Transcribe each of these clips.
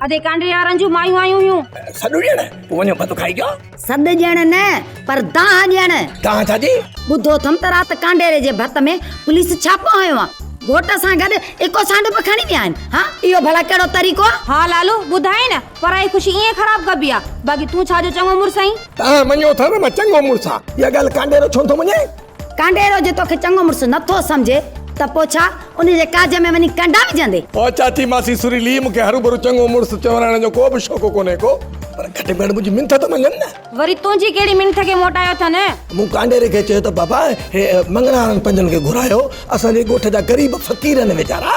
ادي ڪانڊي يارن جون مايون آيون هيون. سڏ ڏيڻ پوء وڃو ڀت کائي ڪيو. سڏ ڏيڻ نه پر دانهن ڏيڻ. دانهن ڇا جي؟ ٻڌو اٿم ته رات ڪانڊيري جي ڀت ۾ پوليس ڇاپو هنيو آ. گهوٽ سان گڏ اڪو سانڊو به کڻي ويا آهن. ها اهو ڀلا ڪهڙو طريقو آ؟ ها لالو ٻڌائين نه پرائي خوشي ائين خراب ڪبي آ. باقي تون ڇا جو چڱو مڙس آهين. تان مڃيو اٿم مان چڱو مڙس آ. اها ڳالهه ڪانڊيرو ڇو نٿو مڃي؟ ڪانڊيرو جي توکي چڱو مڙس نه ٿو سمجهي ته پوء ڇا انهي جي ڪاڄ ۾ وڃي ڪنڊا وجهندي. او چاچي ماسي سريلي مون کي هروڀرو چڱو مڙس چورائڻ جو ڪو به شوق ڪونهي ڪو پر گهٽ ۾ گهٽ منهنجي منٿ ته مڃن نه. وري تنهنجي ڪهڙي منٿ کي موٽايو اٿن. مون ڪانڊيري کي چيو ته بابا هي مڱڻا وارن پنجن کي گهرايو اسان جي ڳوٺ جا غريب فقير آهن ويچارا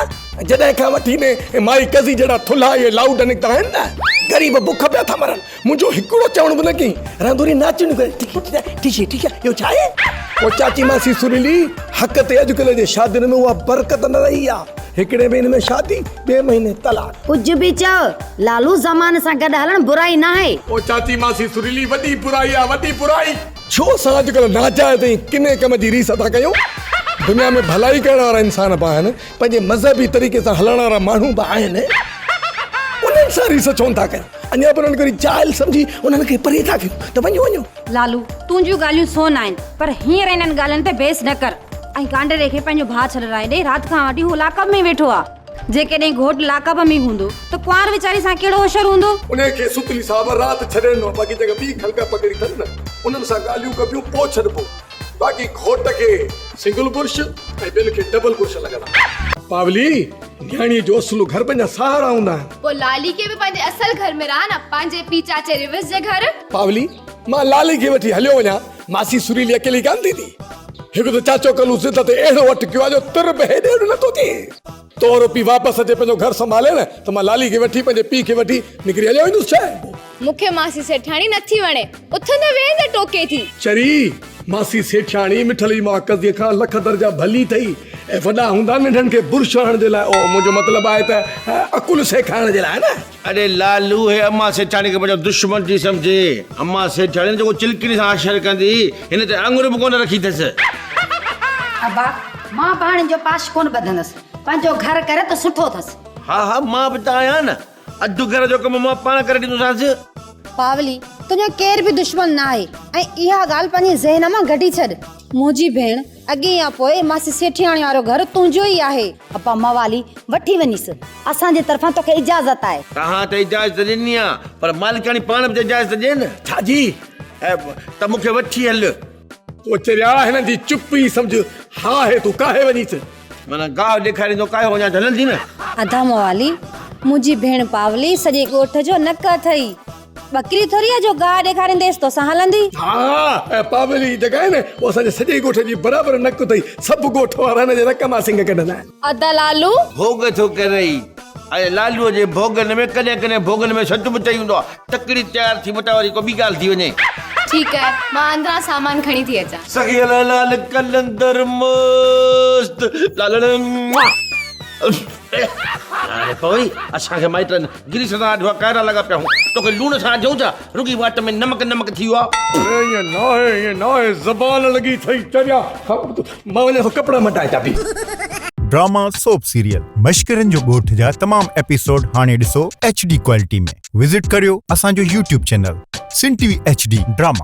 جڏهن کان وٺي ني مائي ڪزي جهڙا ٿلها اهي لاؤڊ نڪتا آهن نه غريب بک پيا ٿا مرن منهنجو هڪڙو چوڻ به نه ڪيائين، رانڌوري ناچڻ ڪري ٺڪي ٺڪي ٺڪي اهو ڇا آهي؟ او چاچي ماسي سريلي، حق تي اڄڪلهه جي شادين ۾ اها برڪت نه رهي آهي، هڪڙي مهيني ۾ شادي، ٻئي مهيني طلاق. ڪجهه به چئو، لالو زماني سان گڏ هلڻ برائي ناهي. او چاچي ماسي سريلي، وڏي برائي آهي، وڏي برائي. ڇو اسان اڄڪلهه ناجائز ۽ ڪني ڪم جي ريس ٿا ڪيون؟ دنيا ۾ ڀلائي ڪرڻ وارا انسان به آهن، پنهنجي مذهبي طريقي سان هلڻ وارا ماڻهو به آهن، انهن سان ريس ڇونه ٿا ڪيون؟ اڃا پر انڪري جاهل سمجهي انهن کي پري ٿا ڪيون ته وڃو وڃو. لالو، تون جون ڳالهيون سون آهن پر هينئر انهن ڳالهين تي بحث نه ڪر. ۽ گانڊري کي پنهنجو ڀاء ڇڏرائي ڏي، رات کان وٺي هو لاڪ اپ ۾ ئي ويٺو آ. جيڪڏهن گهوٽ لاڪ اپ ۾ ئي هوندو ته ڪنوار ويچاري سان ڪهڙو هشر هوندو. انهيء کي ستلي صاحب رات ڇڏي ڏنو باقي جيڪي ٻي خلق پکڙي اٿن نه انهن سان ڳالهيون ڪبيون پوء ڇڏبو باقي گهوٽ کي سنگل برش ۽ ٻين کي ڊبل برش لڳل آ. پاولي، نياڻيء جو اصل گهر پنهنجا سهارا هوندا آهن. پوء لالي کي به پنهنجي اصل گهر ۾ رهه نه، پنهنجي پيء چاچي ريوس جي گهر. پاولي، مان لالي کي وٺي هليو وڃان، ماسي سريلي اڪيلي ڪانه ٿيندي. هڪ ته چاچو ڪلهو ضد تي اهڙو اٽڪيو آهي جو تر به هيڏي هوڏي نٿو ٿئي. تهنجو پيء واپس اچي پنهنجو گهر سنڀالي نه ته مان لالي کي وٺي پنهنجي پيء کي وٺي نڪري هليو ويندس ڇا؟ مون کي ماسي سيٺياڻي نه ٿي وڻي. اٿندي ويهندي ٽوڪي ٿي. چري، ماسي سيٺياڻي مٺلي مان قضيي کان لک درجا ڀلي اٿئي ۽ وڏا هوندا ننڍن کي برش هڻڻ جي لاء اوهه منهنجو مطلب آهي ته عقل سيکارڻ جي لاء نه. اڙي لالو هي امان سيٺياڻي کي پنهنجو دشمن ٿي سمجهي. امان سيٺياڻي جيڪو چلڪڻي سان آشر ڪندي هن تي آڱر به ڪونه رکي اٿس. ابا، مان به هاڻ ان جو پاش ڪونه ٻڌندس. پنهنجو گهر ڪري ته سٺو اٿس. ها ها مان به ته آهيان نه. اڌ گهر جو ڪم مان پاڻ ڪري ڏيندوسانس. پاولي، تنهنجو ڪير به دشمن نه آهي ۽ اها ڳالهه پنهنجي ذهن مان ڪڍي ڇڏ. منهنجي ڀيڻ، اڳي يا پوء ماسي سيٺياڻي وارو گهر تنهنجو ئي آهي. اپا، موالي، وٺي وڃيس، اسان جي طرفان توکي اجازت آهي. توهان ته اجازت ڏني آهي پر مالڪاڻي پاڻ به ته اجازت ڏي نه. ڇا جي؟ ته مون کي وٺي هل. ڪوچريا، هنن جي چپ ئي سمجهه، ها هي تون ڪاهي وڃيس. معنيٰ گاهه ڏيکاريندو ڪاهي اڃا جهلندي نه. ادا موالي منهنجي ڀيڻ پاولي سڄي ڳوٺ جو نڪ اٿئي ٻڪري ٿوري آ جو گاهه ڏيکارينديس توسان هلندي. ها ها پاولي جي جڳهه آهي نه پوء اسان جي سڄي ڳوٺ جي برابر نڪ اٿئي سڀ ڳوٺ وارا هن جي نڪ مان سنگ ڪڍندا آهن. ادا لالو. ڀوڳ ٿو ڪرئي ۽ لالوء جي ڀوڳن ۾ ڪڏهن ڪڏهن ڀوڳن ۾ سچ به چئي هوندو آهي. تڪڙي تيار ٿي مٽان وري ڪو ٻي ڳالهه ٿي وڃي. ٺيڪ آهي مان اندران سامان کڻي ٿي اچان. سخي لاء لال قلندر مست لالڙ. هاڻي پوي اسان کي مائٽن گريس سان آڍوا ڪائرا لڳا پيا هون توکي لوڻ سان آڍيون ڇا رڳي واٽ ۾ نمڪ نمڪ ٿي ويو آ. اڙي ائين ناهي ائين ناهي زبان لڳي ٿئي چريا مان وڃان ٿو ڪپڙا مٽائي چاٻي. ڊراما سوپ سيريل مشڪرين جو ڳوٺ جا تمام ايپيسوڊ هاڻي ڏسو ايڇ ڊي ڪوالٽي ۾ وزٽ ڪريو اسان جو YouTube channel Sindh T V H D drama.